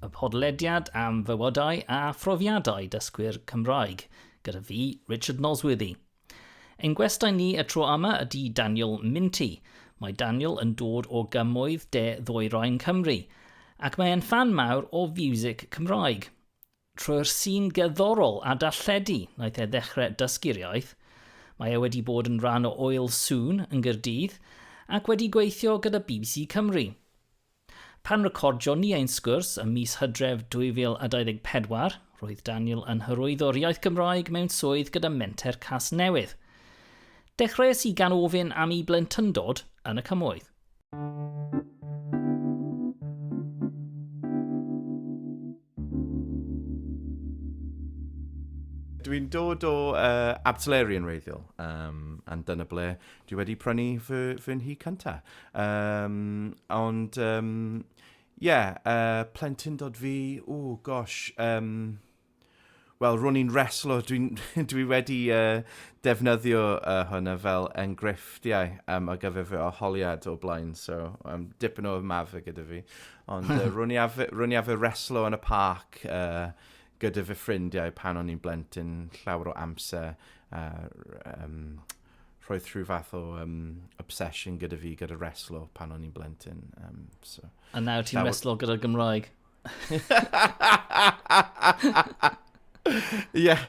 Y podlediad am fywydau a phrofiadau dysgwyr Cymraeg, gyda fi, Richard Nosworthy. Ein gwestai ni y tro yma ydy Daniel Minty. Mae Daniel yn dod o gymoedd de ddwyrain Cymru, ac mae e'n fan mawr o fiwsig Cymraeg. Trwy'r sîn gerddorol a darlledu naeth e ddechrau dysgu'r iaith. Mae e wedi bod yn rhan o Oil Soon yn Gyrdydd ac wedi gweithio gyda BBC Cymru. Pan recordion ni ein sgwrs ym mis Hydref 2024, roedd Daniel yn hyrwyddo'r iaith Gymraeg mewn swydd gyda Menter Casnewydd. Dechreuais i gan ofyn am 'i blentyndod yn y Cymoedd'. Dwi'n dod o uh, Abtleri yn reiddiol, um, and dyna ble dwi wedi prynu fy, fy nhŷ cynta. Um, ond, ie, um, yeah, uh, plentyn dod fi, ww, gosh, um, Wel, ro'n i'n reslo, dwi, dwi wedi uh, defnyddio uh, hwnna fel enghreifftiau um, ar gyfer fy oholiad o blaen, so um, dipyn o mafe gyda fi. Ond uh, ro'n i afe reslo yn y parc uh, gyda fy ffrindiau pan o'n i'n blentyn llawer o amser. Uh, um, roedd rhyw fath o um, obsession gyda fi gyda reslo pan o'n i'n blentyn. Um, so, A nawr ti'n reslo gyda'r Gymraeg? Ie, yeah,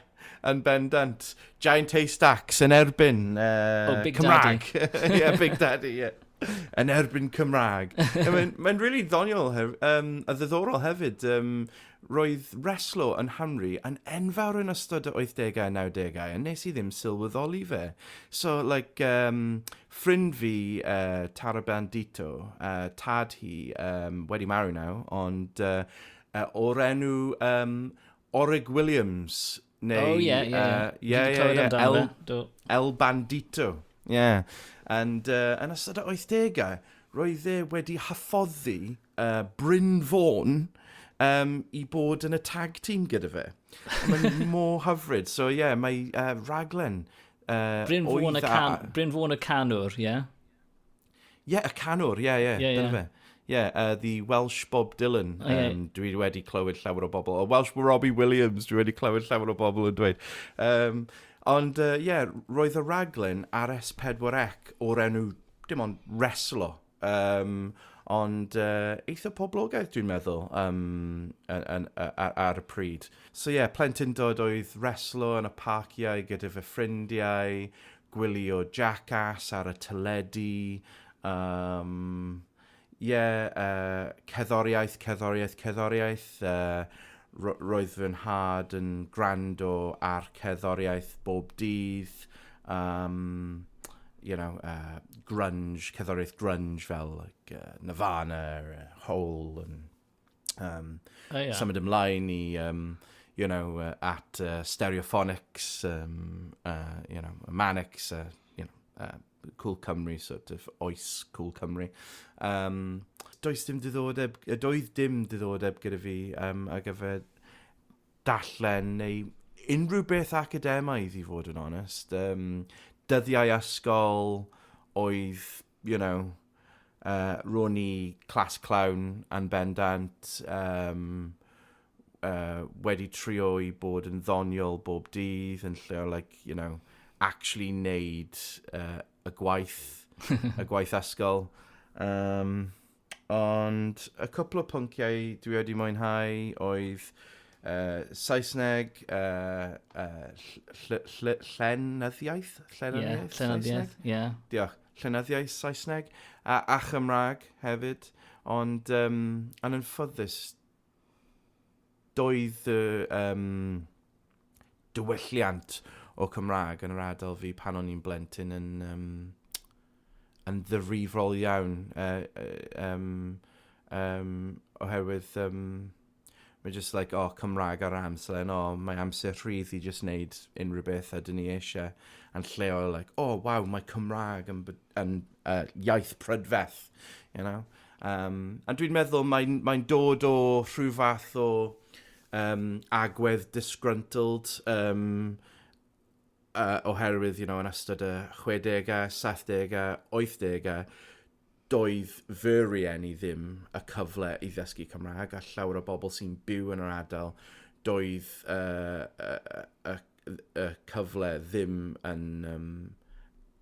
yn bendant. Giant haystacks yn erbyn uh, oh, Big Cymraeg. Daddy. yeah, Big Daddy, yeah. Yn erbyn Cymraeg. Mae'n ma really ddoniol, um, a ddiddorol hefyd. Um, roedd reslo yn Hamri yn enfawr yn ystod y 80au a 90au, a nes i ddim sylweddoli fe. So, like, um, Ffrind fi, yy, Tara Bandito, yy, tad hi, yym, wedi marw nawr, ond, yy, yy, o'r enw, yym, Orig Williams, neu... O, ie, ie, ie. Yy, ie, ie, ie. Dwi 'di clywed amdano fe, do. El, El Bandito, ie. And, yy, yn ystod y oithdegau, roedd e wedi hyfforddi, yy, Bryn Fôn, yym, i bod yn y tag team gyda fe. Mae mor hyfryd. So, ie, mae, yy, rhaglen Uh, Bryn Fôn y, can, a... Bryn Fôn y canwr, ie? Yeah? Ie, yeah, y canwr, ie, yeah, ie, yeah, yeah, dyna yeah. fe. Ie, yeah, uh, the Welsh Bob Dylan, oh, yeah. um, dwi wedi clywed llawer o bobl, o Welsh Robbie Williams, dwi wedi clywed llawer o bobl yn dweud. Um, ond, ie, uh, yeah, roedd y raglen ar S4C o'r enw, dim ond, Reslo, Um, ond uh, eitha poblogaeth dwi'n meddwl um, yn, yn, ar, ar y pryd. So ie, yeah, plentyndod oedd reslo yn y parciau gyda fy ffrindiau, gwylio Jackass ar y teledu, um, yeah, uh, ceddoriaeth, ceddoriaeth, ceddoriaeth. Uh, roedd fy nhad yn gwrando ar ceddoriaeth bob dydd. Yym, you know, yy, grunge, cerddoriaeth grunge fel, like, uh, Nirvana, uh, Hole, and, um, oh, yeah. symud ymlaen i, um, you know, uh, at uh, Stereophonics, um, uh, you know, Manics, uh, you know, uh, Cool Cymru, sort of oes Cool Cymru. Um, does dim diddordeb, doedd dim diddordeb gyda fi um, ar gyfer darllen neu unrhyw beth academaidd i fod yn onest. Um, dyddiau ysgol oedd, you know, uh, ro'n i clas clown yn bendant, um, uh, wedi trio i bod yn ddoniol bob dydd yn lle o, like, you know, actually neud uh, y gwaith, y gwaith ysgol. Um, Ond y cwpl o pynciau dwi wedi mwynhau oedd uh, Saesneg, uh, uh, ll ll llenyddiaeth? Llenyddiaeth? Yeah, llenyddiaeth, ie. Yeah. Diolch. Llenyddiaeth Saesneg a, a Chymraeg hefyd. Ond um, yn ffyddus, Doedd y yym diwylliant o Cymraeg yn yr ardal fi pan o'n i'n blentyn yn yym yn ddifrifol iawn yy yym yym oherwydd yym mae jyst like o Cymraeg ar yr amser and o mae amser rhydd i jyst wneud unrhyw beth a 'dyn ni eisiau yn lleol like o waw mae Cymraeg yn b- yn uh, iaith prydferth, you know. Um, a dwi'n meddwl mae'n mae dod o rhyw fath o um, agwedd disgruntled um, uh, oherwydd, you know, yn ystod y 60au, 70au, 80au, doedd fy rieni ddim y cyfle i ddysgu Cymraeg a llawer o bobl sy'n byw yn yr adael doedd uh, uh, uh, y cyfle ddim yn, um,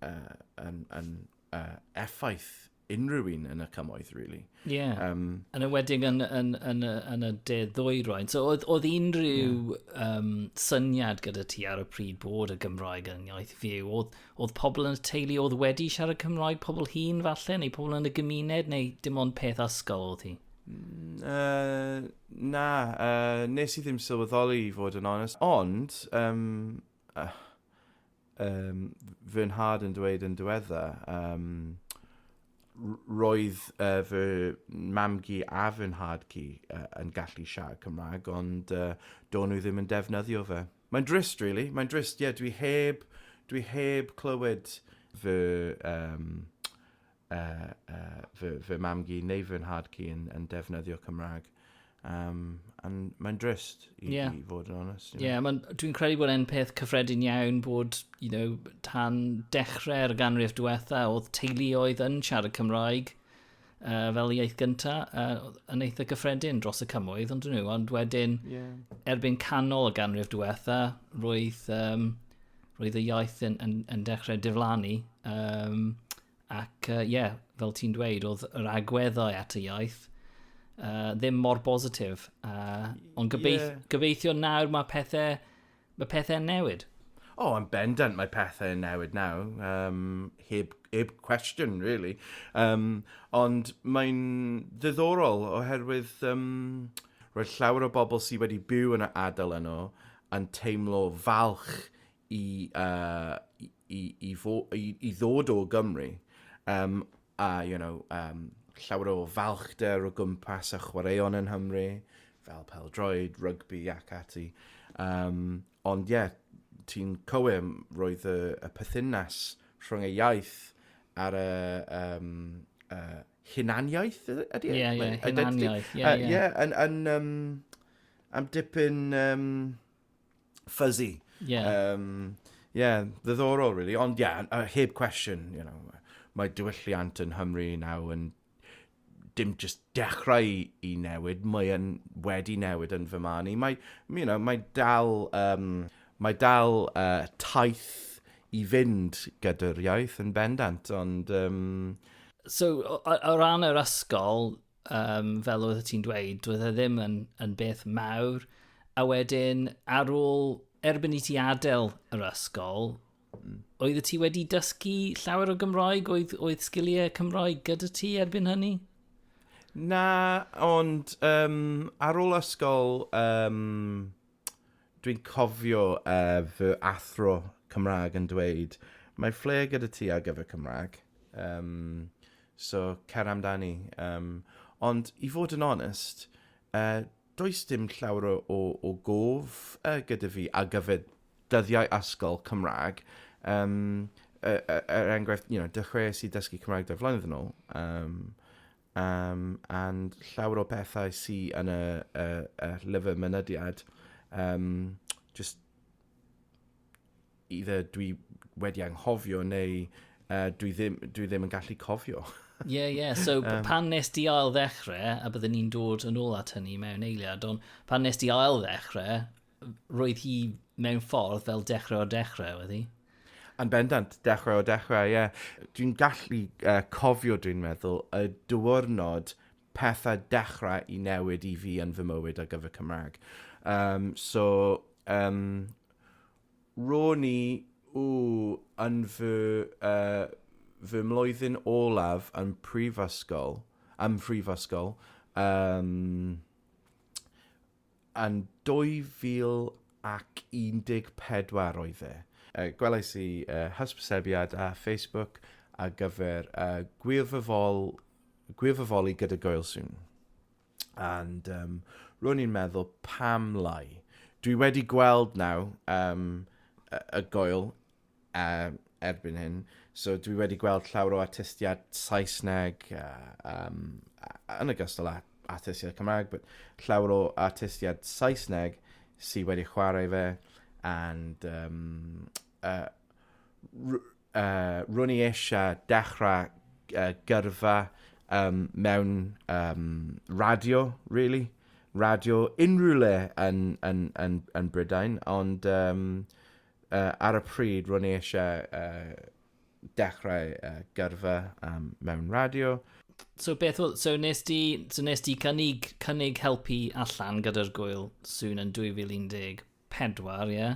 uh, yn, yn uh, effaith unrhyw un yn y cymoedd, really. Ie. Yeah. Um, yn ywedig yn, yn, yn, yn y de ddwyroen. So, oedd, oedd unrhyw yeah. um, syniad gyda ti ar y pryd bod y Gymraeg yn iaith fyw? Oedd, oedd pobl yn y teulu oedd wedi siarad Cymraeg, pobl hun falle, neu pobl yn y gymuned, neu dim ond peth ysgol oedd hi? Uh, Na, yy, nes i ddim sylweddoli i fod yn onest. Ond, um, uh, um, fy nhad yn dweud yn diwedda, um, roedd uh, fy mamgu a fy nhad cu uh, yn gallu siarad Cymraeg, ond uh, do'n nhw ddim yn defnyddio fe. Mae'n drist, really. Mae'n drist, ie. Yeah, dwi heb, dwi heb clywed fy um, uh, uh, fy, fy mam gi neu fy nhad ci yn, yn defnyddio Cymraeg. Um, and mae'n drist i, yeah. i fod yn onest. Ie, yeah, dwi'n credu bod e'n peth cyffredin iawn bod, you know, tan dechrau'r ganrif diwetha oedd teuluoedd yn siarad Cymraeg uh, fel iaith gyntaf uh, yn eitha gyffredin dros y cymoedd, ond nhw, ond wedyn yeah. erbyn canol y ganrif diwetha, roedd um, roedd y iaith yn, yn, yn dechrau diflannu. Um, ac ie, uh, yeah, fel ti'n dweud, oedd yr agweddau at y iaith uh, ddim mor bositif. Uh, ond gobeith, yeah. gobeithio nawr mae pethau, mae pethau newid. O, oh, yn bendant mae pethau yn newid nawr. Um, heb, heb cwestiwn, really. Um, ond mae'n ddiddorol oherwydd um, roedd llawer o bobl sydd wedi byw yn y adael yno yn teimlo falch i, uh, i, i, i, fo, i, i ddod o Gymru, um, a, you know, um, llawer o falchder o gwmpas a chwaraeon yn Nghymru, fel peldroed, rygbi ac ati. Um, ond ie, yeah, ti'n cywir, roedd y, y pythynas rhwng y iaith ar y um, uh, hunaniaeth ydy? E? Ie, ie, hunaniaeth. Ie, ie. Ie, yn, yn, um, am dipyn um, fuzzy. Yeah. Um, yeah, ddiddorol, really. Ond, yeah, uh, heb cwestiwn, you know, mae diwylliant yn Hymru nawr yn dim just dechrau i newid, mae yn wedi newid yn fy marn i. Mae, you know, mae dal, um, mae dal uh, taith i fynd gyda'r iaith yn bendant, ond... Um... So, o, o ran yr ysgol, um, fel oedd ti'n dweud, doedd e ddim yn, yn beth mawr. A wedyn, ar ôl, erbyn i ti adael yr ysgol, mm. oedd y ti wedi dysgu llawer o Gymroeg? Oedd, oedd sgiliau Cymroeg gyda ti erbyn hynny? Na, ond um, ar ôl ysgol, um, Dwi'n cofio uh, fy athro Cymraeg yn dweud, mae ffle gyda ti ar gyfer Cymraeg. Um, so, cer amdani. Um, ond, i fod yn onest, uh, does dim llawer o, o gof uh, gyda fi ar gyfer dyddiau asgol Cymraeg. Um, er enghraifft, you know, dechreuais i dysgu Cymraeg dau flynedd yn ôl. Um, um, and llawer o bethau sy yn y, y, y llyfr mynediad, um, just either dwi wedi anghofio neu uh, dwi, ddim, dwi ddim yn gallu cofio. Ie, yeah, ie. Yeah. So um, pan nes di ail ddechrau, a byddwn ni'n dod yn ôl at hynny mewn eiliad, ond pan nes di ail ddechrau, roedd hi mewn ffordd fel dechrau o dechrau, oedd hi? Yn bendant, dechrau o dechrau, ie. Yeah. Dwi'n gallu uh, cofio, dwi'n meddwl, y diwrnod pethau dechrau i newid i fi yn fy mywyd ar gyfer Cymraeg. Um, so, um, ro'n i ww, yn fy, uh, fy mlwyddyn olaf yn prifysgol, ym mhrifysgol, um, Yn 2014 oedd e. Gwelais i hysbysebiad ar Facebook ar gyfer gwirfoddoli gyda Goel soon. And um, ro'n i'n meddwl, pam lai? Dwi wedi gweld naw um, y goel um, erbyn hyn. So dwi wedi gweld llawer o artistiaid Saesneg uh, um, yn y gystal â artistiaid Cymraeg, but llawer o artistiaid Saesneg sydd wedi chwarae fe, and um, uh, uh, rwn i eisiau dechrau uh, gyrfa um, mewn um, radio, really, radio unrhyw le yn, yn, yn, yn Brydain, ond um, Yy, ar y pryd, ro'n i eisiau yy dechrau yy gyrfa yym mewn radio. So beth oedd... So nes di, so nes di cynnig, cynnig helpu allan gyda'r gwyl sŵn yn 2014, ie? Yeah?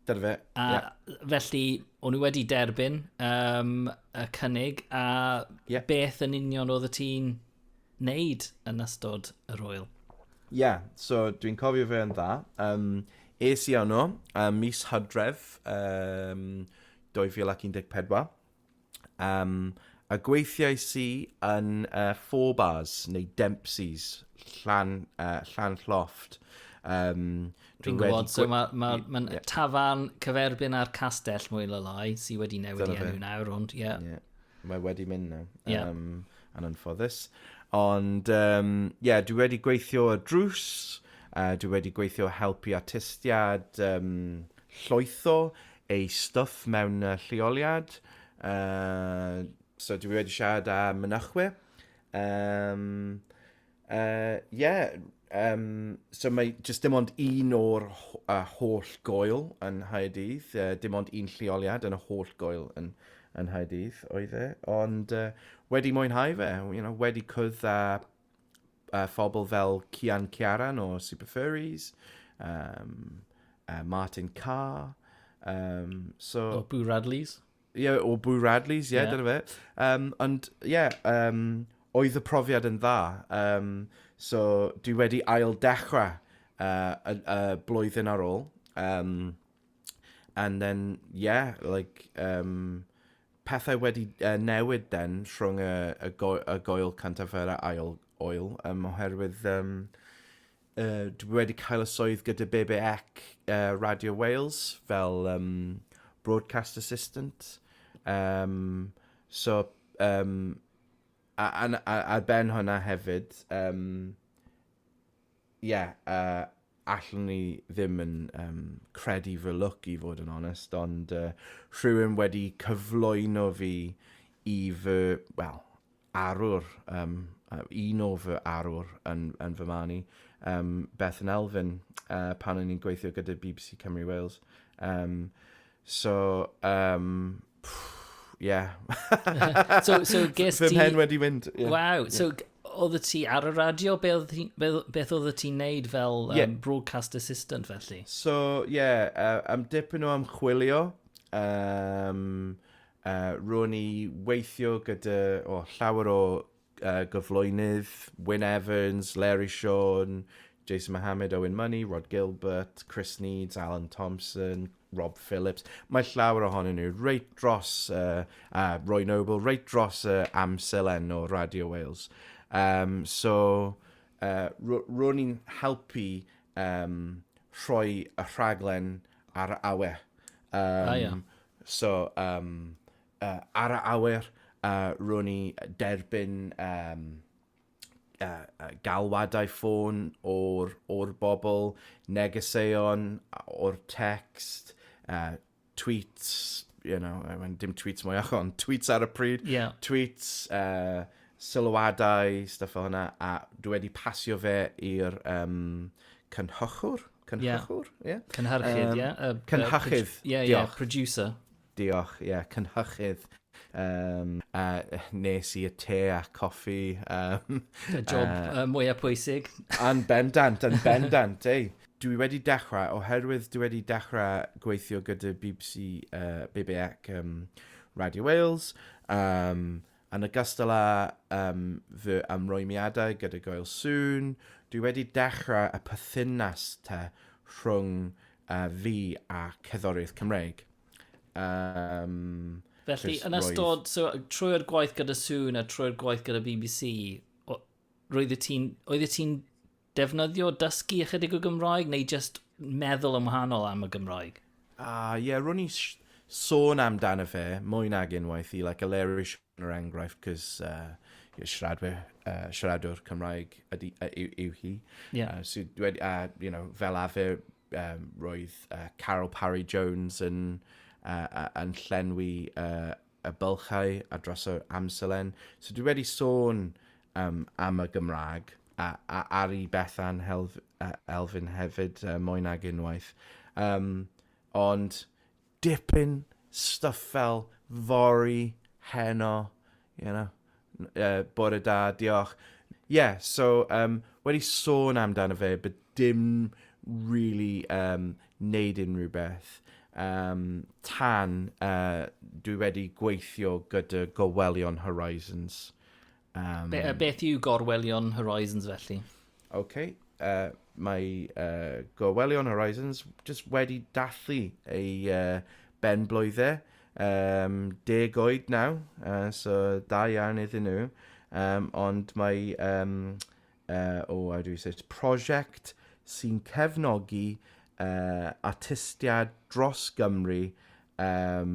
Dyna fe, A yeah. felly, o'n i wedi derbyn um, y cynnig, a yeah. beth yn union oedd y ti'n wneud yn ystod yr wyl. Ie, yeah, so dwi'n cofio fe yn dda. Um, es i yno, uh, mis hydref um, 2014. Um, a gweithiau si yn uh, Four Bars neu Dempsey's, Llan, uh, Llan Llofft. Um, Dwi'n gwybod, so mae ma, ma yeah. tafan cyferbyn ar castell mwy o lai sydd wedi newid i enw nawr, ond ie. Yeah. Yeah. Mae wedi mynd nawr. Yeah. Um, yn anffodus. Ond, um, yeah, dwi wedi gweithio y drws, uh, dwi wedi gweithio helpu artistiad um, llwytho ei stwff mewn uh, lleoliad. Uh, so dwi wedi siarad â mynychwyr. Um, Yy, ie, yym, so mae jyst dim ond un o'r h- y holl goel yn Nghaerdydd, yy, dim ond un lleoliad yn y holl goel yn, yn Nghaerdydd oedd e, ond uh, wedi mwynhau fe, you know, wedi cwrdd â uh, phobl fel Cian Ciaran o Super Furries, um, uh, Martin Carr, um, so... O, Boo Radleys. Ie, o Boo Radley's, ie, dyna fe. Um, ond, ie, um, oedd y profiad yn dda. Um, so, dwi wedi ail dechrau uh, y, y blwyddyn ar ôl. Um, and then, yeah, like, um, pethau wedi uh, newid then rhwng y, y, go, y goel cantaffer a ail oil, um, oherwydd um, uh, dwi wedi cael y swydd gyda BBEC uh, Radio Wales fel um, broadcast assistant. Um, so, um, a, a, a, a ben hwnna hefyd, um, yeah, uh, allwn ni ddim yn um, credu fy lwc i fod yn onest, ond uh, rhywun wedi cyflwyno fi i fy, well, arwr, um, un o fy arwr yn, yn fy marn i, um, Beth yn Elfyn, uh, pan o'n i'n gweithio gyda BBC Cymru Wales. Um, so, um, pff, yeah. so, so ges ti... Fy mhen wedi mynd. Yeah. Wow, so yeah. oedd ti ar y radio? Be oedd ti, be, beth oedd ti'n neud fel um, yeah. broadcast assistant felly? So, yeah, uh, am dipyn o amchwilio, um, Yy, ro'n i weithio gyda, o, llawer o yy gyflwynydd, Wyn Evans, Leri Siôn, Jason Mohammad, Owen Money, Rhod Gilbert, Chris Needs, Alan Thompson, Rob Phillips, mae llawer ohonyn nhw reit dros yy a Roy Noble reit dros y amserlen o Radio Wales. Yym, so, yy, ro- ro'n i'n helpu yym rhoi y rhaglen ar awe. Yym... A ia. So, um, uh, ar y awyr, uh, ro'n i derbyn um, uh, uh, galwadau ffôn o'r, or bobl, negeseuon o'r text, uh, tweets, you know, I mean, dim tweets mwy o'ch ond tweets ar y pryd, yeah. tweets, uh, sylwadau, stuff o hwnna, a dwi wedi pasio fe i'r um, cynhochwr, Cynhyrchwr? Ie. Yeah. Cynhyrchydd, ie. Um, yeah. Cynhyrchydd. Ie, ie, yeah, producer. Diolch, ie, yeah, cynhyrchydd. Um, a nes i y te a coffi. Um, y job uh, uh, mwyaf pwysig. Yn bendant, yn bendant, ei. Dwi wedi dechrau, oherwydd dwi wedi dechrau gweithio gyda BBC, uh, BBAC um, Radio Wales, um, Yn ogystal â um, fy ymrwymiadau gyda Goel Sŵn, dwi wedi dechrau y pythynas te rhwng uh, fi a cerddoriaeth Cymreig. Um, Felly, yn ystod, so, trwy'r gwaith gyda Sŵn a trwy'r gwaith gyda BBC, roedd ti'n, oedd ti'n defnyddio, dysgu ychydig o Gymraeg, neu just meddwl yn wahanol am y Gymraeg? A, uh, ie, yeah, rwy'n i sôn amdano fe mwy nag unwaith i, like, Aleri Sian yr enghraifft, cys uh, siaradwyr, uh, siaradwr Cymraeg ydy, uh, yw, yw hi. Yeah. Uh, so, dwed, uh, you know, fel afer, um, roedd uh, Carol Parry Jones yn, uh, uh, yn llenwi uh, y bylchau a drosodd amserlen. So dwi wedi sôn um, am y Gymraeg a, a, ar i Bethan Helf, uh, Elfyn hefyd uh, mwy nag unwaith. Um, ond dipyn stuff fel fori, heno, you know. Yy bore da, diolch. Ie, so yym wedi sôn amdano fe but dim rili yym neud unrhyw beth yym tan yy dwi wedi gweithio gyda Gorwelion Horizons yym... Be- yy beth yw Gorwelion Horizons felly? Ok, yy mae yy Gorwelion Horizons jyst wedi dathlu ei yy ben-blwydde, yym deg oed nawr, yy so da iawn iddyn nhw, yym ond mae yym yy o how do you say it, prosiect sy'n cefnogi yy artistiaid dros Gymru yym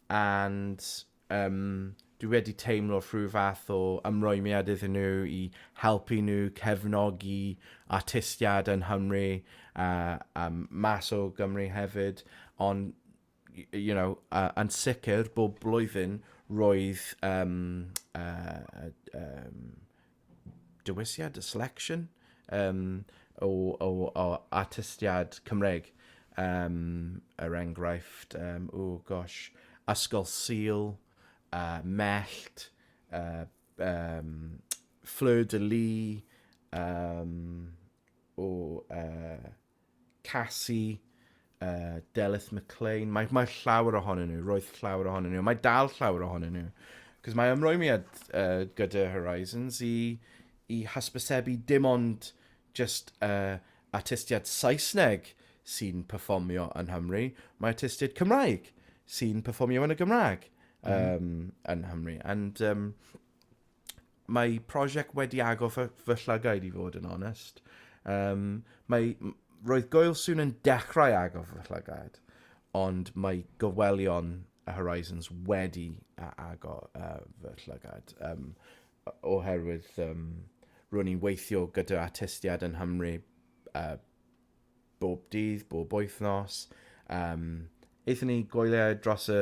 and um, dwi wedi teimlo rhyw fath o ymrwymiad iddyn nhw i helpu nhw cefnogi artistiad yn Nghymru a, a mas o Gymru hefyd, ond you know, uh, yn sicr bob blwyddyn roedd um, uh, um, dewisiad, selection, um, o, o, o artistiad Cymreig. Um, er enghraifft, um, o gosh, Ysgol Sil, uh, Mellt, uh, um, Fleur de Lis, um, o... Uh, Cassie, uh, Delyth McLean. Mae, mae llawer ohonyn nhw, roedd llawer ohonyn nhw. Mae dal llawer ohonyn nhw. Cos mae ymrwymiad uh, gyda Horizons i, i hysbysebu dim ond just uh, artistiad Saesneg sy'n performio yn Hymru. Mae artistiad Cymraeg sy'n performio yn y Gymraeg um, mm. yn Hymru. And um, Mae prosiect wedi agor fy, fy llygaid i fod yn onest. Um, mae, roedd Goel Sŵn yn dechrau agor fy llygaid, ond mae gofwelion y Horizons wedi agor uh, fy llygaid. Um, oherwydd um, ro'n i'n weithio gyda artistiad yn Hymru uh, bob dydd, bob wythnos. Um, Eithon ni goeliau dros y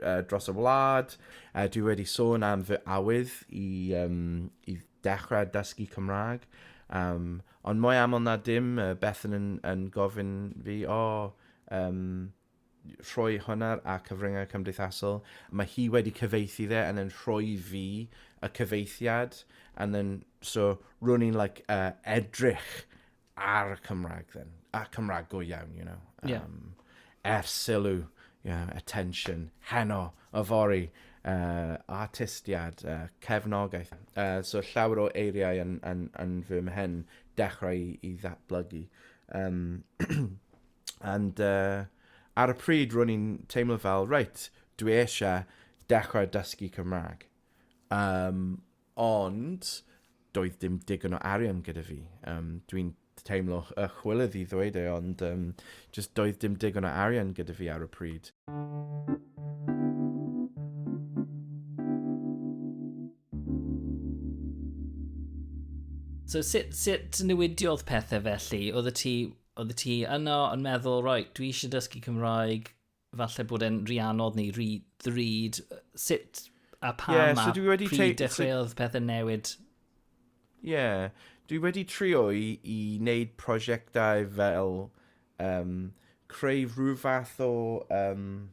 uh, dros y wlad. Uh, dwi wedi sôn am fy awydd i, um, i dechrau dysgu Cymraeg. Um, ond mwy aml na dim, uh, Bethan yn, yn gofyn fi, o, oh, um, rhoi hwnna a cyfryngau cymdeithasol. Mae hi wedi cyfeithi dde yn yn rhoi fi y cyfeithiad. And then, so, rwy'n i'n like, uh, edrych ar y Cymraeg then, a Cymraeg go iawn, you know. Um, yeah. Er sylw, you know, attention, heno, y fori, uh, artistiad, uh, cefnogaeth. Uh, so llawer o eiriau yn, yn, yn fy mhen dechrau i, i ddatblygu. Um, and uh, ar y pryd ro'n i'n teimlo fel, reit, dwi eisiau dechrau dysgu Cymraeg. Um, Ond, doedd dim digon o arian gyda fi. Um, Dwi'n teimlo y chwilydd i ddweud e, ond um, just doedd dim digon o arian gyda fi ar y pryd. So sut, sut newidiodd pethau felly? Oedd y ti, oedd y ti yno yn meddwl, roi, dwi eisiau dysgu Cymraeg, falle bod e'n rhy anodd neu rhy ddrud. Sut a pam yeah, so a pryd dechreuodd so... pethau newid? Ie, yeah. dwi wedi trio i, i wneud prosiectau fel um, creu rhyw fath o... Um,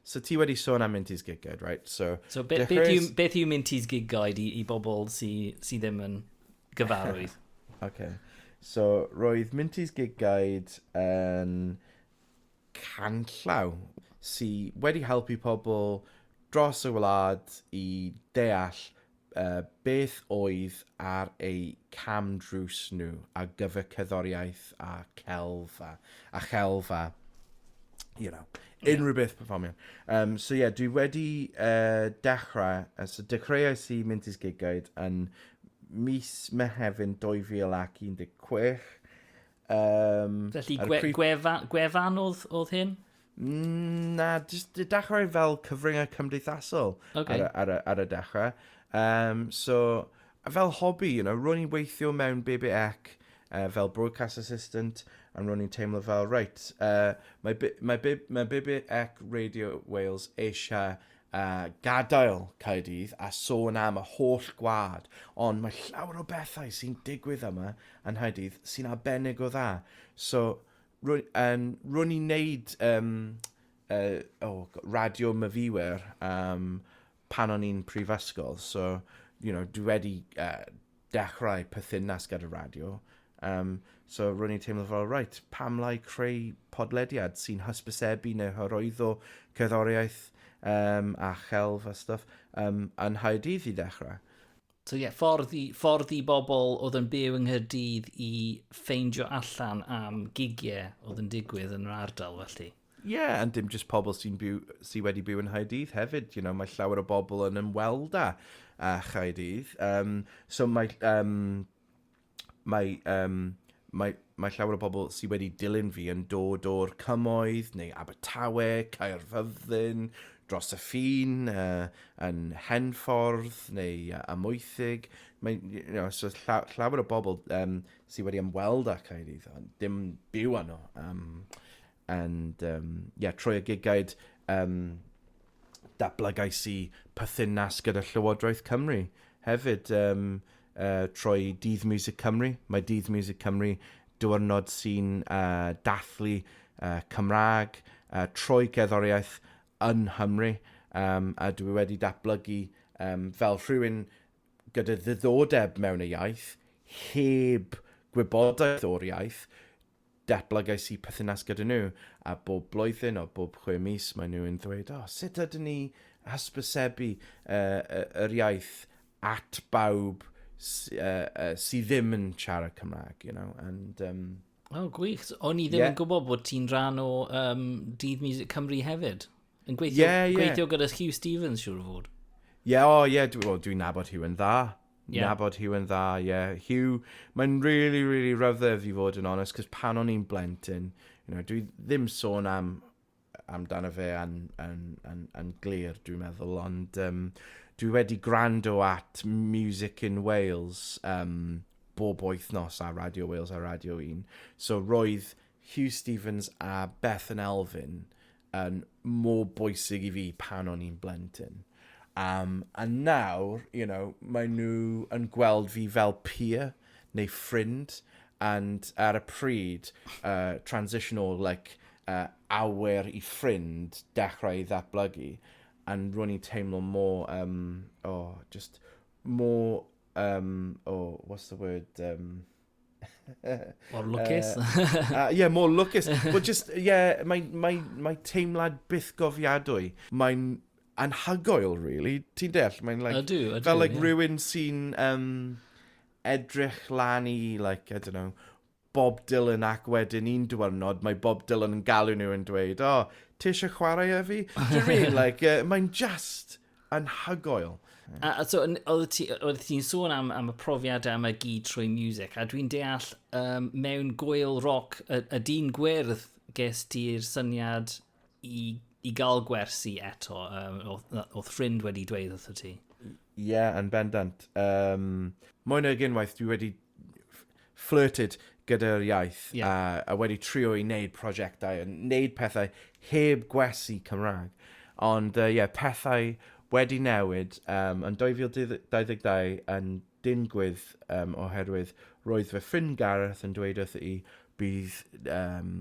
so ti wedi sôn am Minty's Gig Guide, right? So, so be, dechreuodd... beth, yw, beth yw Minty's Gig Guide i, i bobl sydd sy ddim yn gyfarwydd? okay. So, roedd Minty's Gig Guide yn... Um, canllaw sy wedi helpu pobl dros y wlad i ddeall uh, beth oedd ar eu cam drws nhw a gyfer cerddoriaeth a celf a, a chelf a you know, unrhyw beth performio. Um, so ie, yeah, dwi wedi uh, dechrau, uh, so dechreuais i mynd i'r gigaid yn mis Mehefin 2016, Um, Felly gwe, creep... gwefa, gwefan oedd, oedd hyn? Mm, na, just dechrau fel cyfryngau cymdeithasol okay. ar, ar, ar, ar y dechrau. Um, so, fel hobby, you know, ro'n i'n weithio mewn BBEC uh, fel broadcast assistant, a ro'n i'n teimlo fel, right, uh, mae, mae, mae BBEC Radio Wales eisiau a gadael Caerdydd a sôn am y holl gwlad, ond mae llawer o bethau sy'n digwydd yma yn Nghaerdydd sy'n arbennig o dda. So, rwy- yn, rwy'n ni'n neud um, uh, oh, radio myfywer um, pan o'n i'n prifysgol. So, you know, dwi wedi uh, dechrau perthynas gyda radio, um, so ro'n i'n teimlo fel, reit, pam lai creu podlediad sy'n hysbysebu neu hyrwyddo cerddoriaeth um, a chelf a stuff um, yn Nghaerdydd i ddechrau. So ie, yeah, ffordd, i, ffordd i bobl oedd yn byw yng Nghyrdydd i ffeindio allan am gigiau oedd yn digwydd yn yr ardal felly? Ie, yeah, and dim just pobl sy'n byw, sy wedi byw yn Haedydd hefyd, you know, mae llawer o bobl yn ymweld â, â Chaedydd. Um, so mae, um, mae, um, mae, mae llawer o bobl sydd wedi dilyn fi yn dod o'r cymoedd neu Abertawe, Caerfyrddin, dros y ffin, uh, yn Henffordd neu uh, Amoethig. Mae, you know, so lla, llawer o bobl um, sydd wedi ymweld â Caerydd, ond dim byw yno. Um, And um, yeah, trwy y gigaid, um, dablagais i perthynas gyda Llywodraeth Cymru. Hefyd, um, uh, trwy Dydd Music Cymru. Mae Dydd Music Cymru diwrnod sy'n uh, dathlu uh, Cymraeg uh, trwy gerddoriaeth yn Nghymru. Um, a dwi wedi datblygu um, fel rhywun gyda ddiddordeb mewn y iaith, heb gwybodaeth o'r iaith, Datblygais i perthynas gyda nhw, a bob blwyddyn, o bob chwe mis, maen nhw yn ddweud, O, sut ydyn ni hysbysebu yr iaith at bawb sydd ddim yn siarad Cymraeg, you know, and... Um, O, oh, gwych. O'n i ddim yeah. yn gwybod bod ti'n rhan o um, Dydd Music Cymru hefyd. Yn gweithio, yeah, yeah. gweithio gyda Hugh Stevens, siwr o fod. Ie, yeah, o, oh, ie, yeah, dwi'n dwi nabod Hugh yn dda. Ie. nabod Huw yn dda, ie. Huw, mae'n really, really rhyfedd i fod yn onest, cos pan o'n i'n blentyn, you know, dwi ddim sôn am amdano fe yn, yn, yn, yn glir, dwi'n meddwl, ond um, dwi wedi gwrando at Music in Wales um, bob wythnos ar Radio Wales a Radio 1. So roedd Hugh Stevens a Bethan Elfyn yn mor bwysig i fi pan o'n i'n blentyn. Um, a nawr, you know, mae nhw yn gweld fi fel peer neu ffrind, and ar y pryd, uh, transition o, like, uh, awer i ffrind dechrau i ddatblygu, and ro'n i'n teimlo mor, um, oh, just mor, um, oh, what's the word, um, Mor lwcus. uh, yeah, mor lwcus. Wel, just, yeah, mae, mae, mae teimlad byth gofiadwy. Mae'n anhygoel, really. Ti'n deall? Mae'n like... Ydw, ydw. Fel like yeah. rhywun sy'n um, edrych lan i, like, I don't know, Bob Dylan ac wedyn un diwrnod mae Bob Dylan yn galw nhw yn dweud, oh, ti eisiau chwarae ef i? Do you mean? Like, uh, mae'n just anhygoel. A, a so, oedd ti'n ti sôn am, am y profiad am y gyd trwy music, a dwi'n deall um, mewn gwyl roc y, y dyn gwyrdd ges ti'r syniad i, i gael gwersi eto, um, oedd ffrind wedi dweud wrth ti. Ie, yeah, yn bendant. Um, mwy nag unwaith dwi wedi flirted gyda'r iaith yeah. a, a wedi trio i wneud prosiectau, yn wneud pethau heb gwesi Cymraeg. Ond ie, uh, yeah, pethau wedi newid um, yn 2022 yn dingwydd um, oherwydd roedd fy ffrind Gareth yn dweud wrth i bydd um,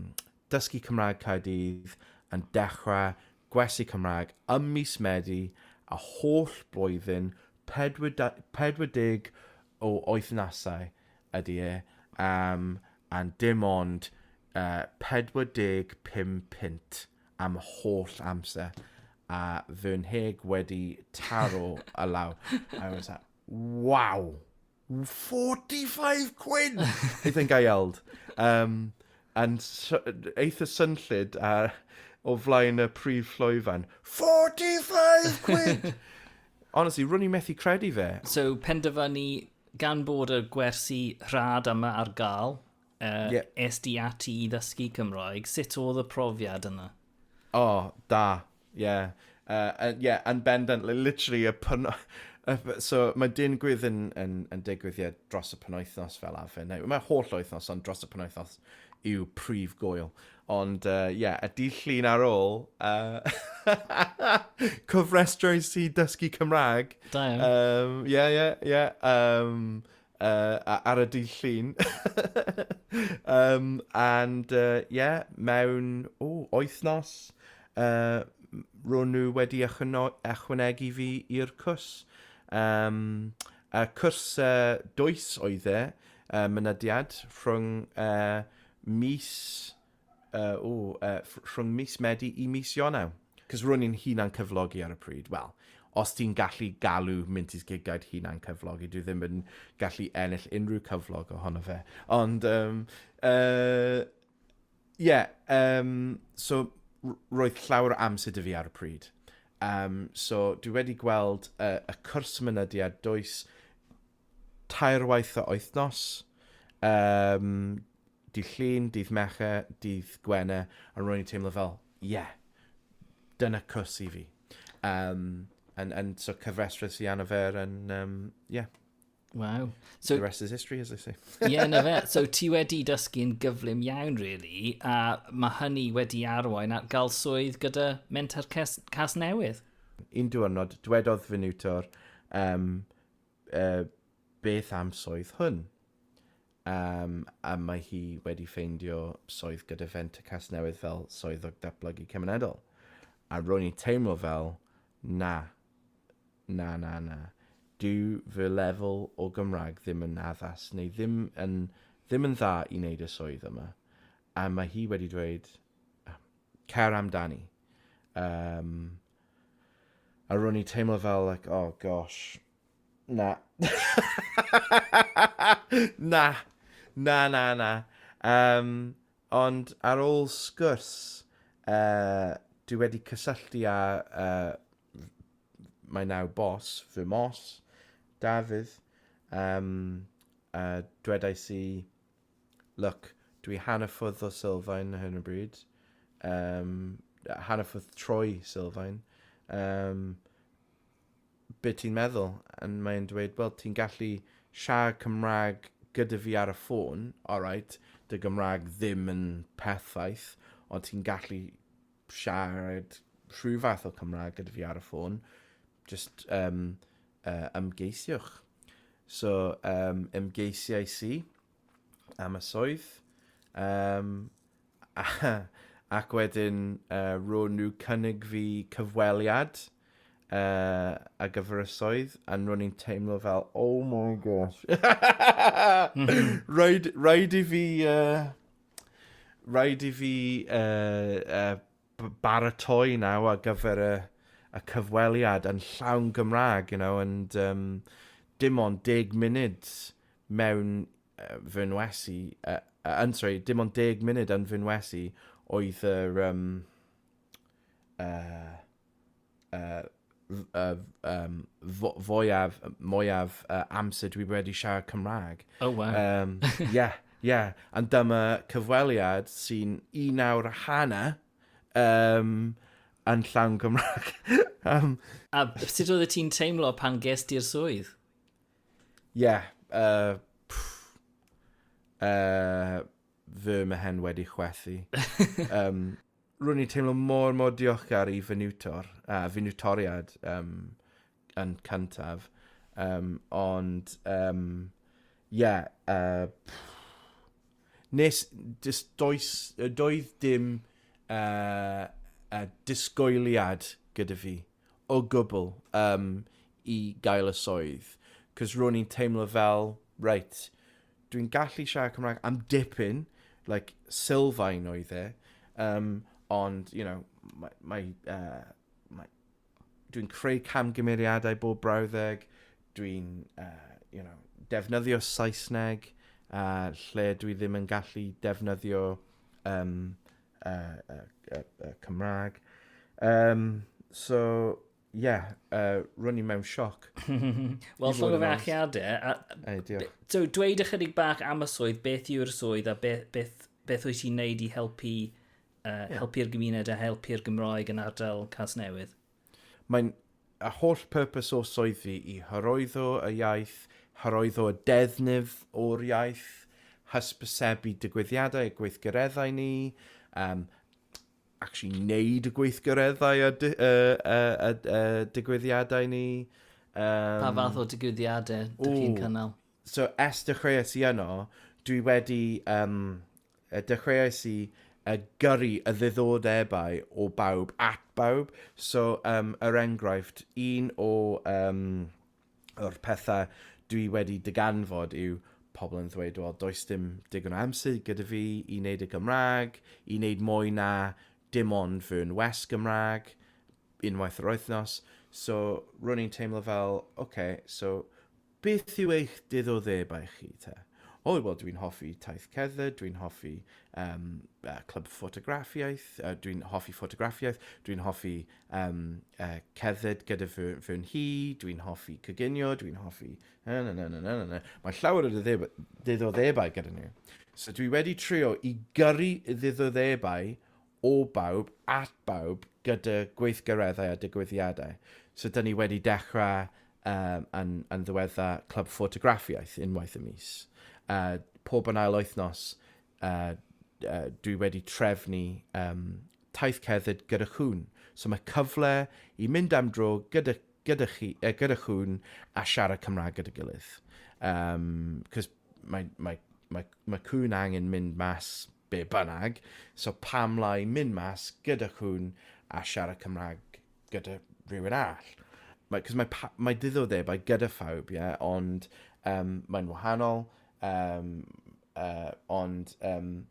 Dysgu Cymraeg Caerdydd yn dechrau gwersi Cymraeg ym mis Medi a holl blwyddyn 40 o wythnasau ydy e am and dim ond 45 punt am y holl amser a fy nheg wedi taro y law. I was like, wow! 45 quid! I think I yelled. Um, and eitha synllid a o flaen y prif llwyfan. 45 quid! Honestly, rwy'n i methu credu fe. So, penderfynu gan bod y gwersi rhad yma ar gael, uh, yeah. es di ati i ddysgu Cymraeg, sut oedd y profiad yna? O, oh, da, ie. Yeah. Uh, uh, yeah, yn bendant, literally, y pyn... so mae dyn gwydd yn, yn, yn digwydd ie, dros y penwythnos fel afe. Neu, mae holl wythnos, ond dros y penwythnos yw prif gwyl. Ond, ie, uh, yeah, y dydd llun ar ôl, uh, cofrestrau i dysgu Cymraeg. Da iawn. Um, yeah, yeah, yeah. Um, uh, ar y dydd llun. um, and, uh, yeah, mewn, o, oethnos, uh, ro'n nhw wedi ychwanegu fi i'r cwrs. Um, a cwrs uh, dwys oedd e, uh, mynediad, rhwng uh, mis uh, ooh, uh, rhwng mis Medi i mis Ionau. Cos rwy'n i'n hunan cyflogi ar y pryd. Wel, os ti'n gallu galw Minty's Gig Guide hunan cyflogi, dwi ddim yn gallu ennill unrhyw cyflog ohono fe. Ond, um, uh, yeah, um, so roedd llawer o amser dy fi ar y pryd. Um, so dwi wedi gweld uh, y cwrs mynydiad does tair waith o wythnos, um, dydd llun, dydd meche, dydd gwene, a rwy'n i'n teimlo fel, ie, yeah, dyna cws i fi. Um, and, and so cyfresres i anaffer, and um, yeah. Wow. So, the rest is history, as I say. Ie, yeah, na fe. So ti wedi dysgu'n gyflym iawn, really, a mae hynny wedi arwain at gael swydd gyda Mentor Cas, Cas Newydd. Un diwrnod, dwedodd fy niwtor, um, Yy, beth am swydd hwn? Yym, a mae hi wedi ffeindio swydd gyda Fenter Casnewydd fel Swyddog Datblygu Cymunedol. A ro'n i'n teimlo fel, na, na, na, na. Dyw fy lefel o Gymraeg ddim yn addas, neu ddim yn, ddim yn dda i wneud y swydd yma. A mae hi wedi dweud, cer amdani. Yym, A ro'n i'n teimlo fel like oh gosh, na. Na! Na, na, na. Yym, ond ar ôl sgwrs, yy, dwi wedi cysylltu â yy m- mae nawr boss, fy mhos, Dafydd, yym, a dwedais i Look, dw i hannerffordd o Sylfaen ar hyn o bryd. Um, hannerffordd troi Sylfaen. Um, be ti'n meddwl? A mae'n dweud, wel, ti'n gallu siarad Cymraeg gyda fi ar y ffôn, alright, dy Gymraeg ddim yn perffaith, ond ti'n gallu siarad rhyw fath o Cymraeg gyda fi ar y ffôn. jyst um, uh, ymgeisiwch. So, um, ymgeisiais i am y swydd, um, ac wedyn uh, ro'n nhw cynnig fi cyfweliad uh, a gyfer y swydd, a ro'n i'n teimlo fel, oh my gosh. Mhm. rhaid, rhaid i fi... Uh, rhaid i fi uh, uh, baratoi naw ar gyfer y, y cyfweliad yn llawn Gymraeg, you know, and um, dim ond deg munud mewn uh, fy nwesi, uh, uh, yn sorry, dim ond deg munud yn fy nwesi oedd yr, um, uh, uh, uh, um, fo, fwyaf, mwyaf uh, amser dwi wedi siarad Cymraeg. Oh, wow. Um, yeah, yeah. And dyma cyfweliad sy'n un awr a hanner um, yn llawn Gymraeg. um, a sut oedd ti'n teimlo pan ges di'r swydd? Yeah, uh, uh, fy mhen wedi chwethu. um, Rwy'n i'n teimlo mor, mor diolchgar i fy niwtor, a fy niwtoriad um, yn cyntaf. Um, ond, um, yeah, uh, nes, dis, does, doedd dim uh, uh, disgwyliad gyda fi o gwbl yym i gael y swydd, 'cos ro'n i'n teimlo fel, reit, dwi'n gallu siarad Cymraeg am dipyn, like, sylfaen oedd e, um, ond, you know, mae, mae, uh, mae dwi'n creu camgymeriadau bob brawddeg, dwi'n, uh, you know, defnyddio Saesneg, uh, lle dwi ddim yn gallu defnyddio um, uh, uh, uh, uh, Cymraeg. Um, so, ie, yeah, uh, rwy'n i mewn sioc. Wel, llog o fe achiadau. Ei, diolch. So, dweud ychydig bach am y swydd, beth yw'r swydd a beth, beth, beth wyt ti'n neud i helpu uh, yeah. helpu'r gymuned a helpu'r Gymraeg yn ardal Cas Newydd? Mae'n a holl purpose o swydd fi i hyrwyddo y iaith, hyrwyddo y defnydd o'r iaith, hysbysebu digwyddiadau a gweithgareddau ni, um, actually wneud y gweithgareddau a, di, uh, uh, uh, uh, digwyddiadau ni. Um, pa fath o digwyddiadau dych chi'n cynnal? So, es dechreuais i yno, dwi wedi um, dechreuais i yy gyrru y ddiddordebau o bawb at bawb. So yym er enghraifft un o yym o'r petha' dwi wedi dyganfod yw pobl yn ddweud wel does dim digon o amser gyda fi i wneud y Gymrag, i wneud mwy na dim ond fy ngwers Gymrag unwaith yr wythnos. So ro'n i'n teimlo fel ocê so Beth yw eich diddordebau chi te? O, wel, dwi'n hoffi taith cerdded, dwi'n hoffi um, uh, clwb ffotograffiaeth, uh, dwi'n hoffi ffotograffiaeth, dwi'n hoffi um, uh, cerdded gyda fy, fy nhi, dwi'n hoffi coginio, dwi'n hoffi... Na, na, na, na, na, na. Mae llawer o ddiddordebau gyda nhw. So dwi wedi trio i gyrru ddiddordebau o bawb, at bawb, gyda gweithgareddau a digwyddiadau. So, dyn ni wedi dechrau um, yn, yn ddiwedda Clwb Ffotograffiaeth unwaith y mis. Uh, pob yn ail wythnos, uh, uh, dwi wedi trefnu um, taith cerdded gyda chwn. So mae cyfle i mynd am dro gyda, gyda, chi, uh, gyda chwn a siarad Cymraeg gyda gilydd. Um, mae, mae, mae, mae cwn angen mynd mas Be bynnag, so pam lai mynd mas gyda cŵn a siarad Cymraeg gyda rhywun all? Mae, cos mae, mae diddordebau gyda phawb, ie, yeah? ond um, mae'n wahanol, um, uh, ond, um,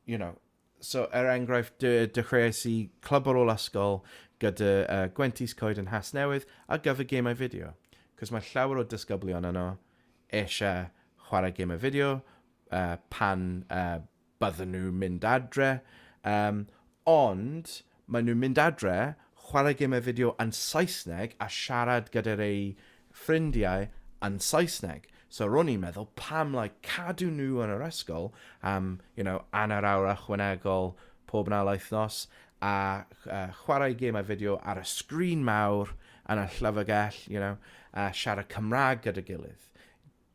you know, so er enghraifft, dy, dechreuais i clwb ar ôl ysgol gyda uh, Gwentis Coed yn Has Newydd ar gyfer gemau fideo. Cos mae llawer o dysgyblion yno eisiau chwarae gemau fideo, uh, pan uh, bydden nhw'n mynd adre, um, ond maen nhw'n mynd adre, chwarae gemau fideo yn Saesneg a siarad gyda'r eu ffrindiau yn Saesneg. So ro'n i'n meddwl, pam lai like, cadw nhw yn yr ysgol am, you know, anner awr ychwanegol pob na laeth nos, a uh, chwarae gemau fideo ar y sgrin mawr yn y llyfrgell, you know, a siarad Cymraeg gyda gilydd.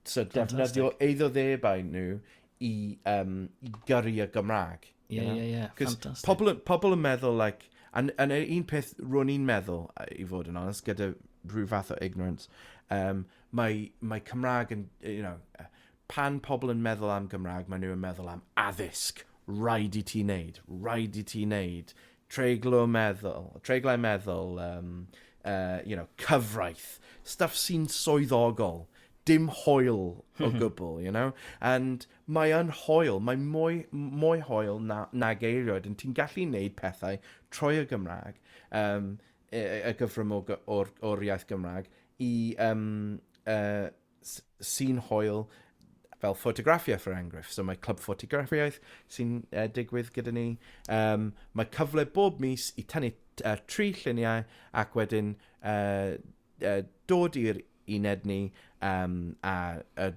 So defnyddio eiddo ddebau nhw i, um, i gyrru y Gymraeg. Ie, ie, ie. Ffantastig. Pobl, pobl yn meddwl, like, and, and un peth ro'n i'n meddwl, i fod yn onest, gyda rhyw fath o ignorance, um, mae, mae Cymraeg yn, you know, pan pobl yn meddwl am Gymraeg, maen nhw yn meddwl am addysg. Rhaid i ti wneud, rhaid i ti wneud Treiglo meddwl, treiglai meddwl, um, uh, you know, cyfraith, stuff sy'n swyddogol, dim hoel o gwbl, you know? And mae yn hoel, mae mwy, mwy hoel na, na geiriod, yn ti'n gallu neud pethau trwy y Gymraeg, um, y, y gyfrym o'r, or, iaith Gymraeg, i, um, uh, sy'n hoel fel ffotograffiaeth er enghraifft. So mae clwb ffotograffiaeth sy'n uh, digwydd gyda ni. Um, mae cyfle bob mis i tynnu uh, tri lluniau ac wedyn uh, uh, dod i'r uned ni um, a, a,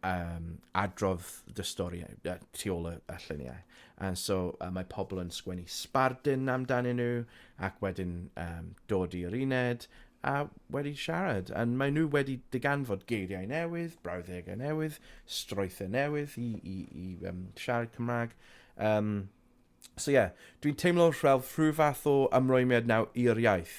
um, adrodd dy stori uh, tu ôl y, y lluniau. And so uh, mae pobl yn sgwennu sbardun amdanyn nhw ac wedyn um, dod i'r uned a wedi siarad, a maen nhw wedi diganfod geiriau newydd, brawddegau newydd, strwythau newydd i, i, i um, siarad Cymraeg. Um, so ie, yeah, dwi'n teimlo rhel rhyw fath o ymrwymiad nawr i'r iaith,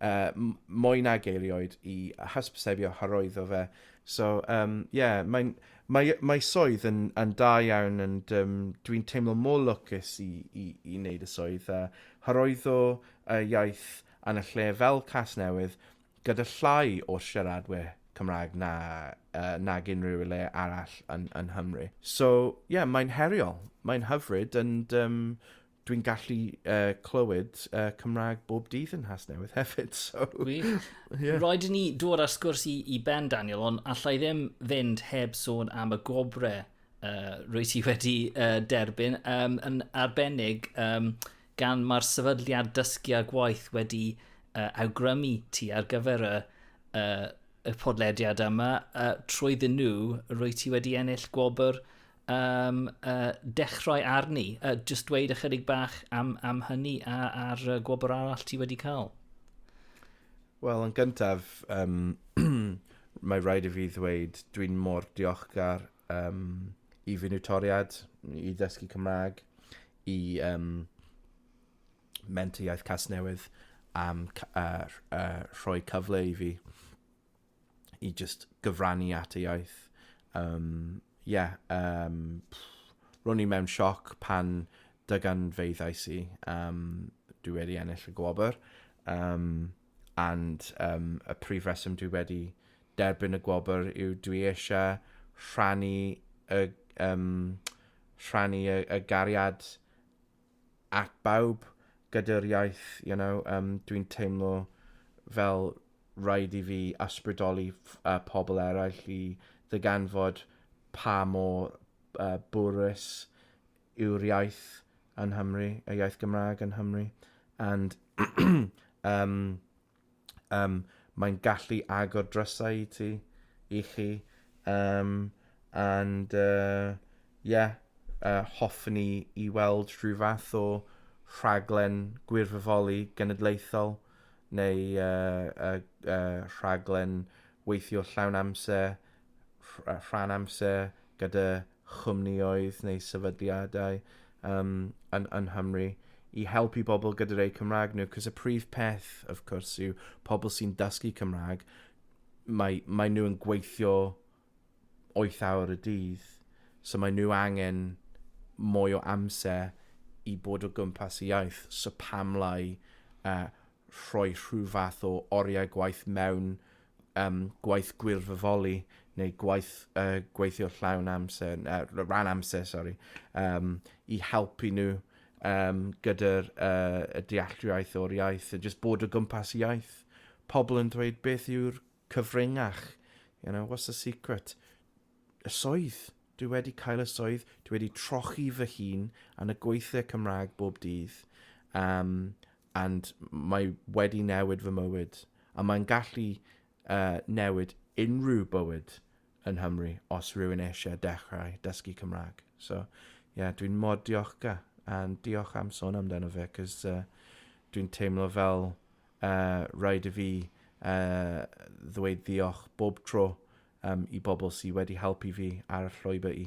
uh, mwy na geirioed i hysbysebio hyrwyddo fe. So ie, um, yeah, mae'n mae, mae swydd yn, yn da iawn and um, dwi'n teimlo mor lwcus i, i, i wneud y swydd a hyrwyddo y iaith yn y lle fel Casnewydd gyda llai o siaradwyr Cymraeg na, yy, nag unrhyw le arall yn, yn Nghymru. So, ie, yeah, mae'n heriol, mae'n hyfryd, and um, dwi'n gallu uh, clywed uh, Cymraeg bob dydd yn Nghasnewydd hefyd, so... Gwych. yeah. Roed ni dod ar sgwrs i, i ben, Daniel, ond allai ddim fynd heb sôn am y gwobre uh, rwy ti wedi uh, derbyn, um, yn arbennig um, gan mae'r sefydliad dysgu a gwaith wedi uh, awgrymu ti ar gyfer y, uh, y podlediad yma, uh, trwyddyn nhw, rwy ti wedi ennill gwobr um, uh, dechrau arni. Uh, just dweud ychydig bach am, am hynny a, a'r uh, gwobr arall ti wedi cael. Wel, yn gyntaf, um, mae rhaid i fi ddweud, dwi'n mor diolchgar um, i fy niwtoriad, i ddysgu Cymraeg, i um, mentor iaith Casnewydd am uh, uh, rhoi cyfle i fi i just gyfrannu at y iaith. Um, yeah, um, ro'n i mewn sioc pan dygan feiddais i um, dwi wedi ennill y gwobr. Um, and um, y prif reswm dwi wedi derbyn y gwobr yw dwi eisiau rhannu y, um, rhannu y, y gariad at bawb gyda'r iaith, you know, um, dwi'n teimlo fel rhaid i fi ysbrydoli uh, pobl eraill i ddyganfod pa mor uh, bwrus yw'r iaith yn Nghymru, y iaith Gymraeg yn Nghymru, and um, um, mae'n gallu agor drysau i ti, i chi, um, and uh, yeah, uh, hoffwn i i weld rhyw fath o rhaglen gwirfoddoli genedlaethol neu uh, uh, uh, rhaglen weithio llawn amser, rhan amser gyda chwmnïoedd neu sefydliadau um, yn, yn Nghymru i helpu bobl gyda'r eu Cymraeg nhw, cos y prif peth, of course, yw pobl sy'n dysgu Cymraeg, mae, mae nhw yn gweithio 8 awr y dydd, so mae nhw angen mwy o amser i bod o gwmpas y iaith, so pam lai uh, rhoi rhyw fath o oriau gwaith mewn um, gwaith gwirfoddoli neu gwaith uh, gweithio llawn amser, uh, rhan amser, sori, um, i helpu nhw um, gyda'r uh, y dealltwriaeth o'r iaith, a just bod o gwmpas iaith. Pobl yn dweud beth yw'r cyfringach, you know, what's the secret? Y soedd. Dwi wedi cael y soedd, dwi wedi trochi fy hun yn y gweithiau Cymraeg bob dydd. Um, and mae wedi newid fy mywyd, a mae'n gallu uh, newid unrhyw bywyd yn Hymru os rhywun eisiau dechrau dysgu Cymraeg. So, ie, yeah, dwi'n mor diolchgar, a diolch am sôn amdano fe, cos uh, dwi'n teimlo fel uh, rhaid i fi uh, ddweud ddiolch bob tro um, i bobl sydd wedi helpu fi ar y llwybr i.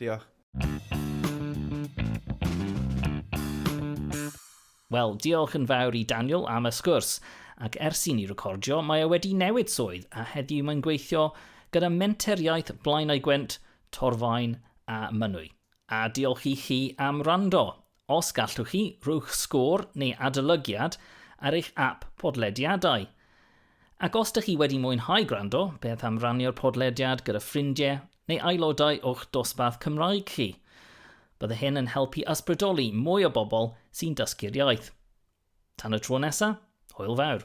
Diolch. Wel, diolch yn fawr i Daniel am y sgwrs, ac ers i ni recordio, mae e wedi newid swydd a heddiw mae'n gweithio gyda Menter Iaith Blaenau Gwent, Torfaen a Mynwy. A diolch i chi am rando. Os gallwch chi, rhowch sgôr neu adolygiad ar eich ap podlediadau. Ac os dych chi wedi mwynhau gwrando, beth am rannu'r podlediad gyda ffrindiau neu aelodau o'ch dosbarth Cymraeg chi? Bydde hyn yn helpu ysbrydoli mwy o bobl sy'n dysgu'r iaith. Tan y tro nesa, hwyl fawr.